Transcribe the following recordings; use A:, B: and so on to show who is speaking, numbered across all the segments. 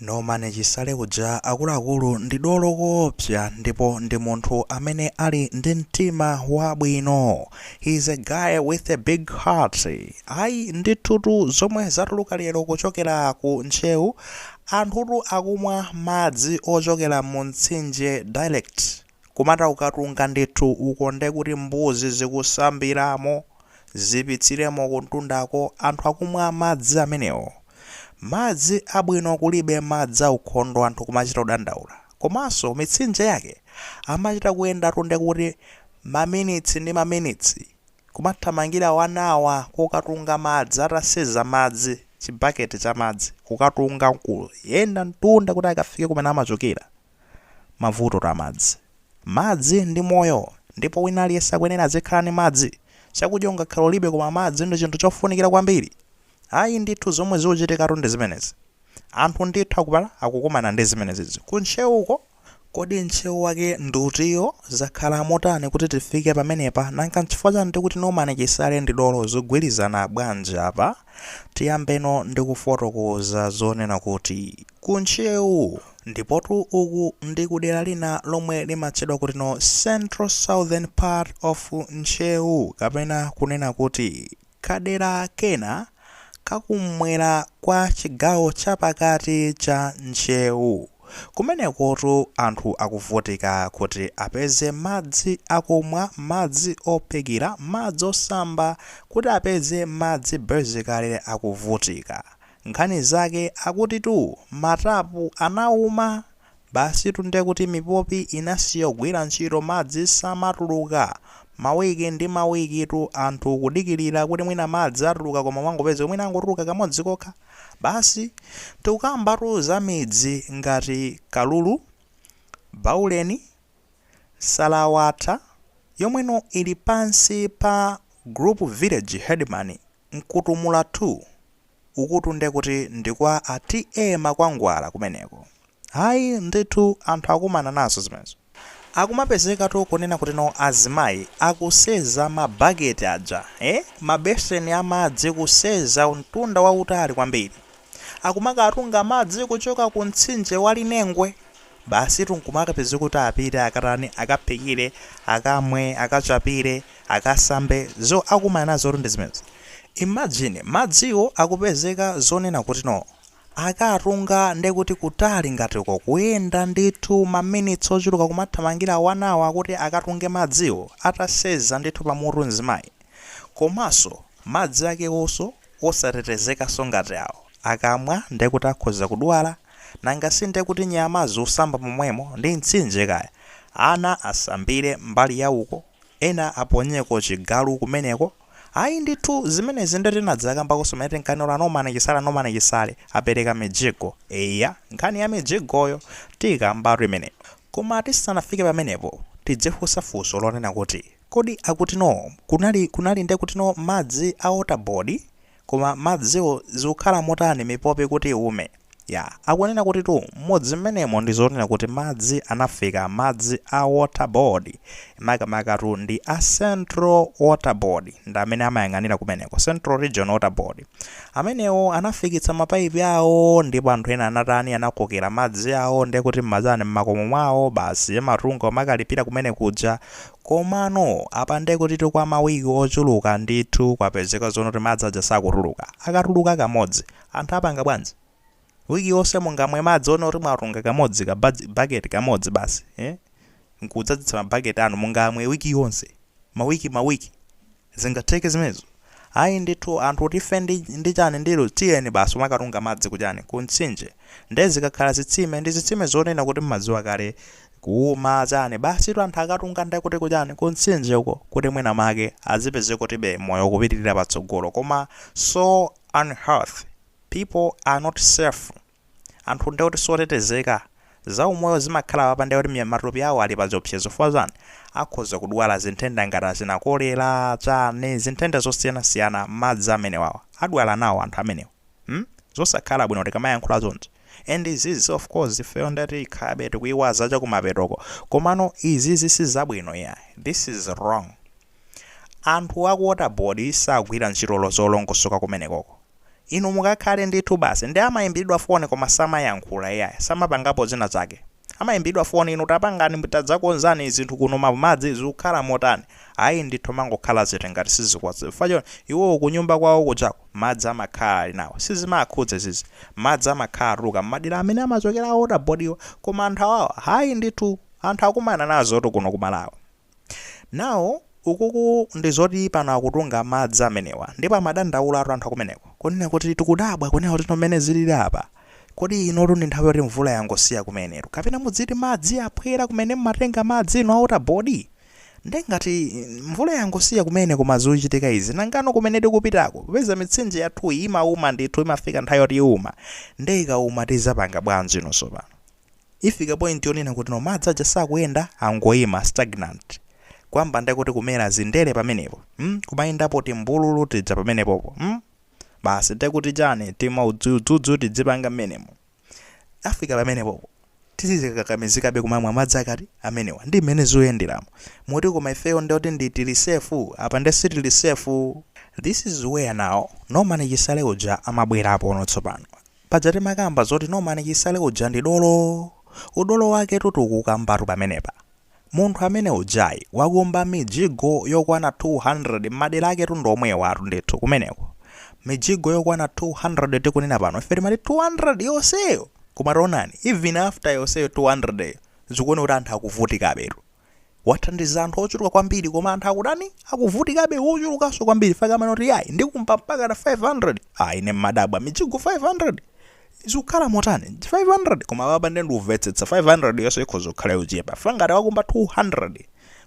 A: Norman Chisale uja akuluakulu ndi dolo koopsa ndipo ndi munthu amene ali ndi mtima wabwino. He is a guy with a big heart. Ayi ndithutu zomwe zatuluka lero kuchokera ku Ntcheu, anthutu akumwa madzi ochokera mu mtsinje direct. Kumata ukatunga ndithu uko nde kuti mbuzi zikusambiramo, zibyitsiramo kumtundako, anthu akumwa madzi amenewo? Madzi abwino kulibe madzi aukhondo anthu kumachita kudandaula. Komanso mitsinje yake amachita kuyendatu nde kuti maminitsi ndi maminitsi kumathamangira 1 hour kokatunga madzi ataseza madzi chibaketi cha madzi kukatunga nkuyenda mtunda kuti akafike kumene amachokera. mavuto a madzi. Madzi ndi moyo ndipo wina aliyense akuyenera azikhala ndi madzi. Chakudya ungakhale ulibe koma madzi ndi chinthu chofunikira kwambiri. Ayi ndithu zomwe zikuchitikatu ndi zimenezi. Anthu ndithu aku Mpala akukumana ndi zimenezizi. Ku Ntcheu uko? Kodi Ntcheu wake ndi utiyo? Zakhala motani kuti tifike pamenepa? Nanga n'chifukwa chani tikuti Norman Chisale ndi dolo? Zikugwirizana bwanji apa? Tiyambeno ndi kufotokoza zonena kuti ku Ntcheu. Ndipotu uku ndi ku dera lina lomwe limatchedwa kutino Central Southern part of Ntcheu kapena kunena kuti kadera kena kakum'mwera kwa chigawo chapakati cha Ntcheu. Kumenekotu anthu akuvutika kuti apeze madzi akumwa, madzi ophikira, madzi osamba, kuti apeze madzi basically akuvutika. Nkhani zake akutitu matapu anauma! Basitu nde kuti mipopi inasiya kugwira ntchito madzi samatuluka. Mawiki ndi mawikitu anthu kudikirira kuti mwina madzi atuluka koma umangopeza kuti mwina angotuluka kamodzi kokha. Basi tikukambatu za midzi ngati Kalulu, Bauleni, Salawatha yomweno ili pansi pa Group Village Headman Mkutumula 2. Ukutu ndekuti ndi kwa a TA Makwangwala kumeneko. Ayi ndithu anthu akumana nazo zimenezo. Akumapezekatu kunena kutino azimayi akuseza ma bucket aja ee mabeseni a madzi kuseza mtunda wautali kwambiri. Akumakatunga madzi kuchoka ku mtsinje wa Linengwe. Basitu nkumakapezeka kuti apite akatani akaphikire, akamwe, akachapire, akasambe zo akumana nazotu ndi zimenezo. Imagine madziwo akupezeka zonena kutino Akatunga nde kuti kutali ngati uko kuyenda ndithu ma minutes ochuluka kumathamangira 1 hour kuti akatunge madziwo ataseza ndithu pa mutu mzimayi. Komanso madzi akewoso osatetezekanso ngati awo. Akamwa nde kuti akhoza kudwala. Nanga si nde kuti nyama zikusamba momwemo, ndi mtsinje kaya. Ana asambire mbali ya uko, ena aponyeko chigalu kumeneko. Ayi ndithu zimenezi nde tinadzakambakonso pamene tinkanena kuti Norman Chisale Norman Chisale apereka mijigo. Eya nkhani ya mijigoyo tiikambatu imeneyo. Koma tisanafike pamenepo tidzifunsa funso lonena kuti kodi akutino kunali kunali nde kutino madzi a water board? Koma madziwo zikukhala motani mipopi kuti iwume? Ya, akunena kuti tu m'mudzi mmenemo ndi zonena kuti madzi anafika madzi a Water Board makamakatu ndi a Central Water Board ndi amene amayang'anira kumeneko, Central Region Water Board. Amenewo anafikitsa mapaipi awo ndipo anthu ena anatani anakokera madzi awo nde kuti m'matani m'makomo mwawo basi amatunga umakalipira kumene kuja Komano apa nde kutitu kwa ma week ochuluka ndithu kwapezeka zonoti madzi aja sakutuluka. Akatuluka kamodzi, anthu apanga bwanji? Week yonse mungamwe madzi onoti mwatunga kamodzi ka budge, bucket kamodzi basi, eh? Nkudzadzitsa ma bucket anu, mungamwe week yonse? Ma week ma week? Zingatheke zimenezo? Ayi ndithu anthu ati ife ndi chani ndilo tiyeni basi kumakatunga madzi ku chani ku mtsinje nde zikakhala zitsime ndi zitsime zonena kuti mmadziwa kale kuuma chani basitu anthu akatunga nde kuti ku chani ku mtsinje uko kuti mwina make azipeze kutibe moyo ukupitirira patsogolo koma so unhealthy people are not safe anthu ndiye kuti siotetezeka, za umoyo zimakhala apa ndiye kuti matupi awo ali pa chiopsezo chifukwa chani, akhoza kudwala zinthenda ngati achina kolera, chani, zinthenda zosiyanasiyana madzi amenewawa adwala nawo anthu amenewa mm zosakhala bwino tikamayankhula chonchi and izizi of course ifeyo ndiye tikhalabe tikuiwaza chakumapetoko komano izizi si zabwino iyayi this is wrong anthu a ku water board sagwira ntchito zolongosoka kumenekoko. Inu mukakhale ndithu basi. Nde amaimbidwa foni koma samayankhula iyayi. Samapangapo zina zake. Amaimbidwa foni inu tapangani, tadzakonzani zinthu kuno ma madzi zikukhala motani. Ayi ndithu amangokhala zete ngati sizikuwaza. Chifukwa chonoti iwo kunyumba kwawo kujako madzi amakhala ali nawo. Sizimawakhudza izizi. Madzi amakhala akutuluka mmadera amene amachokera a water board wa. Koma anthu awawa ayi ndithu. Anthu akumana nazotu kuno ku Malawi. Now ukuku ndi zoti pano akutunga madzi amenewa ndipo amadandaulatu anthu akumeneko kunena kuti tikudabwa kunena kuti mmene zilili apa kodi inotu ndi nthawi yoti mvula yangosiya kumenetu kapena mudzati madzi aphwera kumene mmatenga madzi inu a water board nde ngati mvula yangosiya kumene koma zikuchitika izi nangano kumene tikupitako popeza mitsinje yathuyi imauma ndithu imafika nthawi yoti iuma nde ikauma tizapanga bwanji inu sopano Ifika point yonena kuti no madzi aja sakuyenda angoima, stagnant. Kuyamba nde kuti kumera zindere pamenepo. Hmm? Kumayendapo timbululu tija pamenepopo. Hmm? Basi nde kuti chani timaudzudzudzudzu tizipanga mmenemo. Afika pamenepopo. Tizikakamizikabe kumamwa madzi ake ati? Amenewa. Ndi mmene zuyenderamu. Moti koma ifeyo nde kuti ndi tili safe? Apa nde sitili safe. This is where now Norman Chisale uja amabwerapo no tsopano. Paja timakamba zoti Norman Chisale uja ndi dolo. Udolo waketu tikuukambatu pamenepa. Munthu amene ujayi wakumba mijigo yokwana 200 m'madera aketu ndi omwewotu ndithu kumeneko. Mijigo yokwana 200 tikunena pano ife timati 200 yonseyo! Koma taonani even after yonseyo 200 yo zikuoneka kuti anthu akuvutikabetu. wathandiza anthu ochuluka kwambiri koma anthu akutani akuvutikabe ochulukanso kwambiri fakti amene akuti ayi ndikumba mpaka na 500 ayi ine mmadabwa mijigo 500 zikukhala motani 500 koma apapa nde ndikumvetsetsa 500 yonse ikhoza kukhala yochepa ifa ngati wakumba 200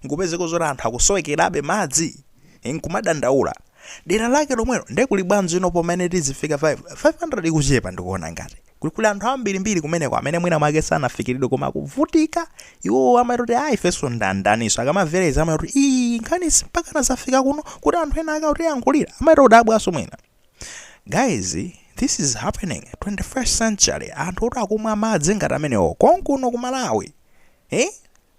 A: nkupezeka zoti anthu akusowekerabe madzi nkumadandaula dera lake lomwelo nde kuli bwanji ino pomene tizifika 5 500 ikuchepa ndikuona ngati kuti kuli anthu ambirimbiri kumeneko amene mwina mwake sanafikiridwe koma akuvutika iwowo amati kuti ayi ifenso ndi ndaninso akamamvera izi amati kuti iyi nkhanizi mpakana zafika kuno kuti anthu ena ake akutiyankhulira amakhala odabwanso mwina guys this is happening 21st century anthu oti akumwa madzi ngati amenewo konkuno ku malawi eh?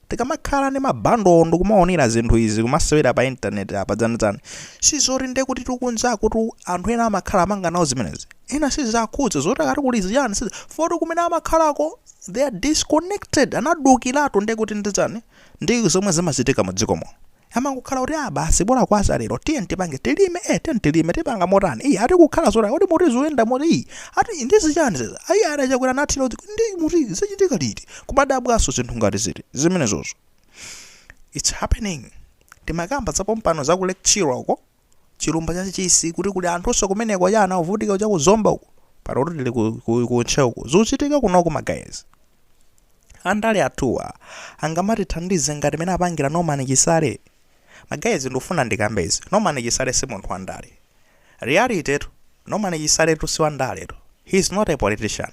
A: Tikamakhala ndi ma bundle ndikumaonera zinthu izi kumasewera pa internet apa dzana dzana sizoti nde kutitu kunjakutu anthu ena amakhala akupanga nawo zimenezi ena siziwakhudza zoti akati kuli zichani sizi poti kumene amakhalako they are disconnected anadukiratu nde kuti ndi chani ndi zomwe zimachitika mu dziko muno amangokhala kuti ah basi bola kwacha lero tiye tipange tilime eh tiye tilime tipanga motani iyi ati kukhala zotani kuti muti zoyenda moti iyi ati ndi zichani izi ayi ati achakwera nathira kuti ndi muti zachitika liti kumadabwanso zinthu ngati ziti zimenezozo it's happening timakamba zapompano za ku Lake Chilwa uko chilumba cha chisi kuti kuli anthunso kumeneko cha ana ovutika cha ku zomba uku pano kuti tili ku, ku, ku ntcheu uku zikuchitika kunoko ma guys andale athuwa angamatithandize ngati mmene apangira norman chisale ma guys ndikufuna ndikambe izi norman chisale si munthu wandale reality tu norman chisale tu si wandale tu he is not a politician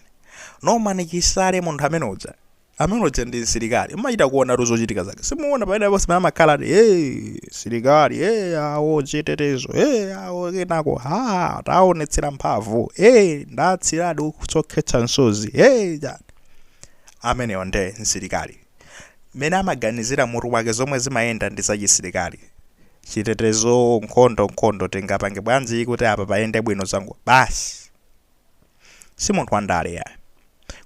A: norman chisale munthu amene uja amene uja ndi msilikali mmachita kuonatu zochitika zake simuona pamene ponse pamene amakhala ati hey, silikali hey, awo chitetezo hey, awo kenako ha taonetsera mphamvu hey, ndatsiradi utsi okhetsa msozi hey, ja. ameneyo nde msilikali mmene amaganizira mutu wake zomwe zimayenda ndi zachisilikali chitetezo nkhondo nkhondo tingapange bwanji kuti apa payende bwino zangu basi Si munthu wandale iyayi.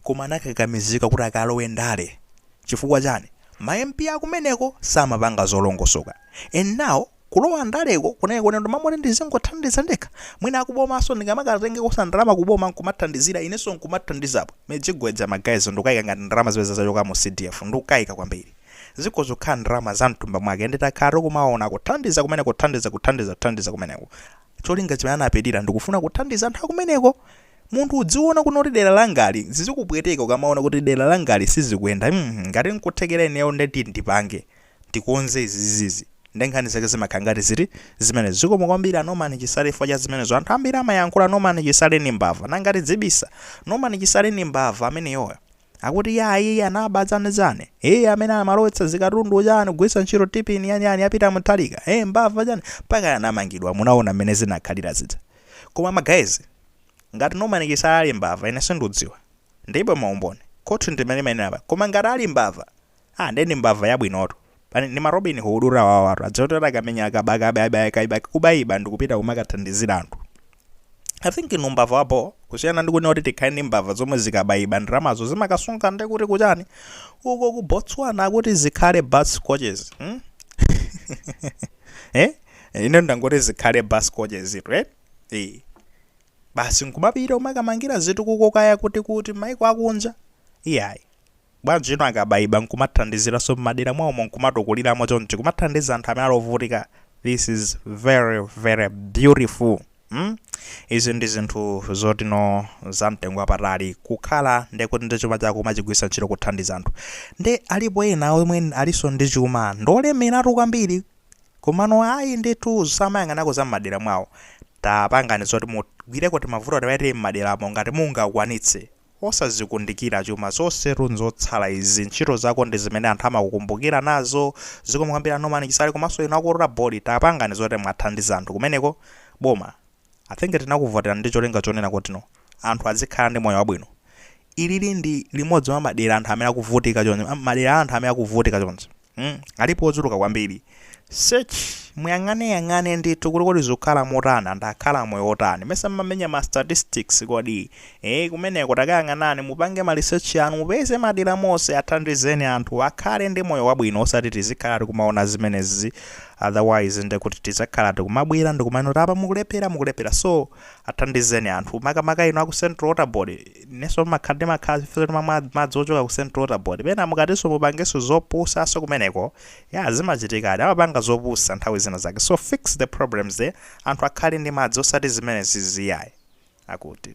A: Koma anakakamizika kuti akalowe ndale. Chifukwa chani? Ma MP akumeneko samapanga zolongosoka. And now kulowa ndaleko kunali koti mmalo mwakuti ndizingothandiza ndekha. Mwina akubomanso ndingamakatengekonso ndalama kuboma nkumathandizira inenso nkumathandizapo. Mijigo ija ma guys ndikukaika ngati ndalama zimene zija zachoka mu CDF. Ndikukaika kwambiri. Zikhoza kukhala ndalama za mthumba mwake ende takhala tikumaona akuthandiza kumeneko kuthandiza kuthandiza kuthandiza kumeneko. Cholinga chimene anapitira ndikufuna kuthandiza anthu akumeneko. Munthu udziona kunena kuti dera langali zizikupweteka ukamaona kuti dera langali sizikuyenda mm ngati nkuthekera ineyo nde tiye ndipange ndikonze izizizizi nde nkhani zake zimakhala ngati ziti zimenezo. Zikomo kwambiri a Norman Chisale chifukwa cha zimenezo. Anthu ambiri amayankhula Norman Chisale ndi mbava nanga tidzibisa? Norman Chisale ndi mbava ameneyoyo. Akuti yayi iye anaba zani zani. Iye amene amalowetsa zikatundu chani kugwiritsa ntchito TPIN yani yani ya Peter Mutharika. Eh mbava chani mpaka anamangidwa munaona mmene zinakhalira zija. Koma ma guys ngati Norman Chisale ali mbava ine sindudziwa. Ndilibe maumboni. Khoti ndimene limanena apa. Koma ngati ali mbava Ah nde ndi mbava yabwinotu. Ndi ma Robin Hood awawatu. Aja oti atakamenya akabaka abe abe akaibaka kubaiba ndikupita kumakathandizira anthu. I think ndi mbava ya bho kusiyana ndi kunena kuti tikhale ndi mbava zomwe zikabaiba ndalamazo zimakasunga nde kuti kuchani. Uko ku Botswana akuti zikhale bus coaches. Hmm? eh? Ine ndangoti zikhale bus coaches itu eh? Eh. Basi nkumapita umakamangira zitukuko kaya kuti kuti maiko akunja. Iyayi. Bwanji inu akabayiba nkumathandiziranso mmadera mwawomo nkumatukuliramo chonchi kumathandiza anthu amene ali ovutika this is very very beautiful mm izi ndi zinthu zoti no za mtengo wapatali kukhala nde kuti ndi chuma chako umachigwiritsa ntchito kuthandiza anthu nde alipo ena omwe alinso ndi chuma ndolemeratu kwambiri komano ayi ndithu samayang'anako za mmadera mwawo tapangani zoti mugwireko timavuto tina tili mmaderamo ngati mungakwanitse Osazikundikira chuma zonsetu nzotsala izi ntchito zako ndi zimene anthu amakukumbukira nazo zikomo kwambiri a Norman Chisale komanso inu aku Water Board tapangani zoti mwathandiza anthu kumeneko boma I think tinakuvoterani ndi cholinga chonena kutino anthu adzikhala ndi moyo wabwino ilili ndi limodzi mwa madera anthu amene akuvutika choncho madera a anthu amene akuvutika choncho Hmm? Alipo ochuluka kwambiri. Search, muyang'ane yang'ane ndithu kuti kodi zikukhala motani anthu akukhala moyo wotani. Mesa mmamenya ma statistics kodi. Eh, kumeneko takayang'anani mupange ma research anu mupeze madera onse athandizeni anthu akhale ndi moyo wabwino osati tizikhala tikumaona zimenezi otherwise nde kuti tizakhala tikumabwera ndikumanena kuti apa mukulephera mukulephera so athandizeni anthu makamaka inu aku Central Water Board ineso ndimakhala ndimakhala ifeso timamwa madzi ochoka ku central water board pena mukatiso mumapangaso zopusaso kumeneko ya zimachitikadi amapanga zopusa nthawi zina zake so fix the problems there anthu akhale ndi madzi osati zimenezi ziyayi akuti